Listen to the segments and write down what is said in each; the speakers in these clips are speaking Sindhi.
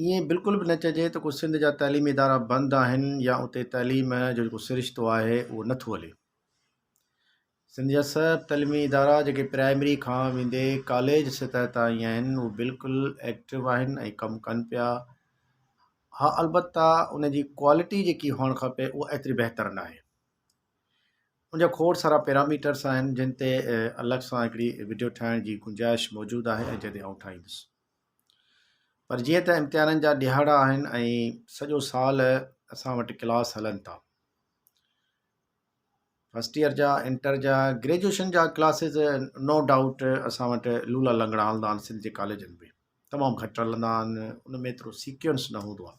ائين بلڪل به نه چئجي ته ڪو سنڌ جا تعليمي ادارا بند آهن يا اتي تعليم جو جيڪو سرشتو آهي اهو نه ٿو هلي. سنڌ جا سڀ تعليمي ادارا جيڪي پرائمري کان ويندي ڪاليج سطح تائين آهن اهو بلڪل ايڪٽو آهن ۽ ڪم ڪن پيا. ها البته ان جي ڪوالٽي جيڪي هئڻ کپي اها ايتري بهتر نه آهي. ان جا کوڙ سارا پيراميٽرس آهن جن تي الڳ سان هڪڙي وڊيو ٺاهڻ جي گنجائش موجود آهي ۽ جڏهن آئون ٺاهيندس. پر جيئن ته امتحانن جا ڏهاڙا آهن ۽ سڄو سال اسان وٽ ڪلاس هلن ٿا فرسٽ ايئر جا انٽر جا گريجويشن جا ڪلاسز نو ڊائوٽ اسان وٽ لولا لنگڙا هلندا آهن سنڌ جي ڪاليجن ۾ تمام گهٽ هلندا آهن ان ۾ ايترو سيڪوينس نه هوندو آهي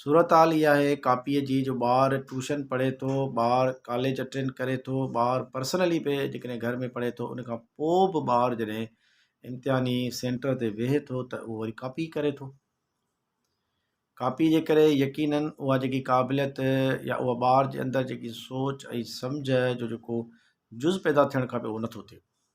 صورتحال اها آهي ڪاپيء جي جو ٻار ٽيوشن پڙهي ٿو ٻار ڪاليج اٽينڊ ڪري ٿو ٻار پرسنلي به جيڪڏهن گهر ۾ پڙهي ٿو ان کان پوء به ٻار جڏهن امتحاني سينٽر تي ويهي ٿو ته اهو وري ڪاپي ڪري ٿو ڪاپي جي ڪري يقيناً اها جيڪي قابليت يا اها ٻار جي اندر جيڪي سوچ ۽ سمجهه جو جيڪو جز پيدا ٿيڻ کپي اهو نٿو ٿئي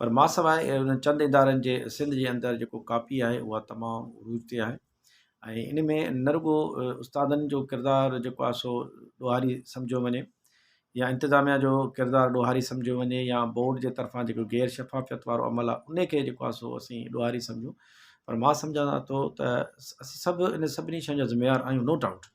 پر ماسواء انهن چند ادارن جي سنڌ جي اندر جيڪو ڪاپي آهي اها تمام عروج تي آهي ۽ ان ۾ نه رڳو استادن جو ڪردار جيڪو آهي سو ڏوهاري سمجهيو وڃي يا انتظاميا جو ڪردار ڏوهاري سمجهيو وڃي يا بورڊ جي طرفان جيڪو غير شفافيت وارو عمل آهي ان کي جيڪو آهي سو اسين ڏوهاري سمجهون پر مان سمجهان ٿو ته اسين سڀ ان سڀني شين جا ذميوار آهيون نو ڊائوٽ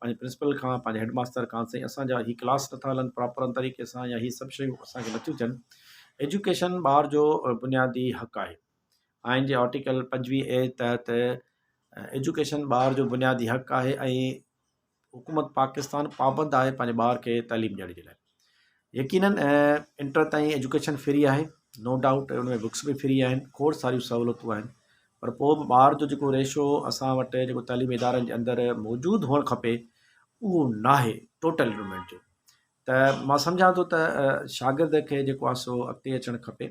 پنهنجي پرنسپل کان پنهنجي هيڊ ماستر کان سائين اسان جا هي ڪلاس نٿا هلن پراپر طريقي سان يا هي سڀ شيون اسان کي نٿيون ٿين ايجوڪيشن ٻار جو بنيادي حق آهي آئين جي آرٽيڪل پنجويهه اي تحت ايجوڪيشن ٻار جو بنيادي حق آهي ۽ حڪومت پاڪستان پابند آهي پنهنجي ٻار کي تعليم ڏيڻ جي لاء يقينن انٽر تائين ايجوڪيشن فري آهي نو ڊائوٽ ان ۾ بڪس به فري آهن کوڙ ساريون سهولتون آهن پر پوء به ٻار جو جيڪو ريشو اسان وٽ جيڪو تعليمي ادارن جي اندر موجود هئڻ کپي اهو نه آهي ٽوٽل انرومينٽ جو ته مان سمجهان ٿو ته شاگرد کي جيڪو آهي سو اڳتي اچڻ کپي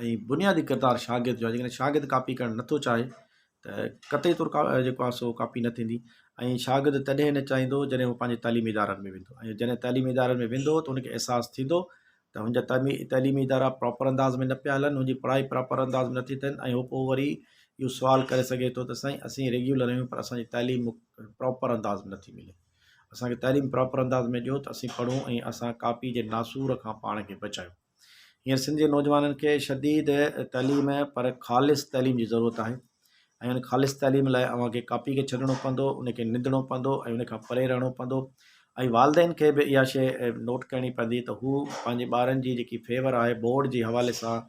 ۽ بنيادي ڪردار شاگرد جو آهي جيڪڏهن شاگرد ڪاپي ڪرڻ نه ٿو چاهي ته قطعي طور جيڪو آهي سو ڪاپي نه ٿيندي ۽ شاگرد تڏهن نه چاهيندو جڏهن هو پنهنجي تعليمي ادارن ۾ ويندو ۽ جڏهن تعليمي ادارن ۾ ويندو ته ان کي احساس ٿيندو ته هن جا تعليمي تعليمي ادارا پراپر انداز ۾ نه پيا هلن هن جي پڙهائي پراپر انداز ۾ نٿي ٿين ۽ هو پوء وري اهو سوال ڪري سگهي ٿو ته سائين اسين ريگيولر آهيون پر اسانجي تعليم پراپر انداز ۾ نٿي ملي اسانکي تعليم پراپر انداز ۾ ڏيو ته اسين پڙهون ۽ اسان ڪاپي جي ناسور کان پاڻ کي بچايون هينئر سنڌ جي نوجوانن کي شديد تعليم پر خالص تعليم جي ضرورت آهي ۽ ان خالص تعليم لاء اوهان کي ڪاپي کي ڇڏڻو پوندو ان کي نندڻو پوندو ۽ ان کان پري رهڻو پوندو ۽ والدين کي به اها شيء نوٽ ڪرڻي پوندي ته هو پنهنجي ٻارن جي جيڪي فيور آهي بورڊ جي حوالي سان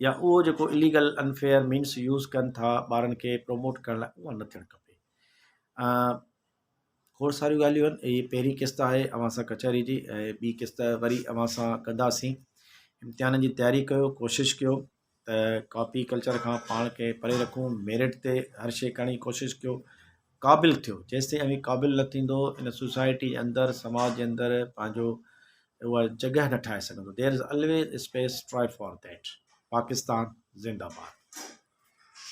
يا اهو جيڪو اليگل انفيئر مينس يوز ڪن ٿا ٻارن کي پروموٽ ڪرڻ لاء اها نه ٿيڻ کپي کوڙ ساريون ڳالهيون آهن هي پهرين قسط آهي اوهان سان ڪچهري جي ۽ ٻي قسط وري اوهان سان ڪنداسين امتحانن جي تياري ڪيو ڪوشش ڪيو ته ڪاپي ڪلچر کان پاڻ کي پري رکون ميرٽ تي هر شيء ڪرڻ جي ڪوشش ڪيو قابل ٿيو جيستائين اوهين قابل نه ٿيندو ان سوسائٽي جي اندر سماج جي اندر پنهنجو اها جڳهه نه ٺاهي سگهندو دير از الويز اسپيس ٽراء فار ديٽ پاڪستان زنده باد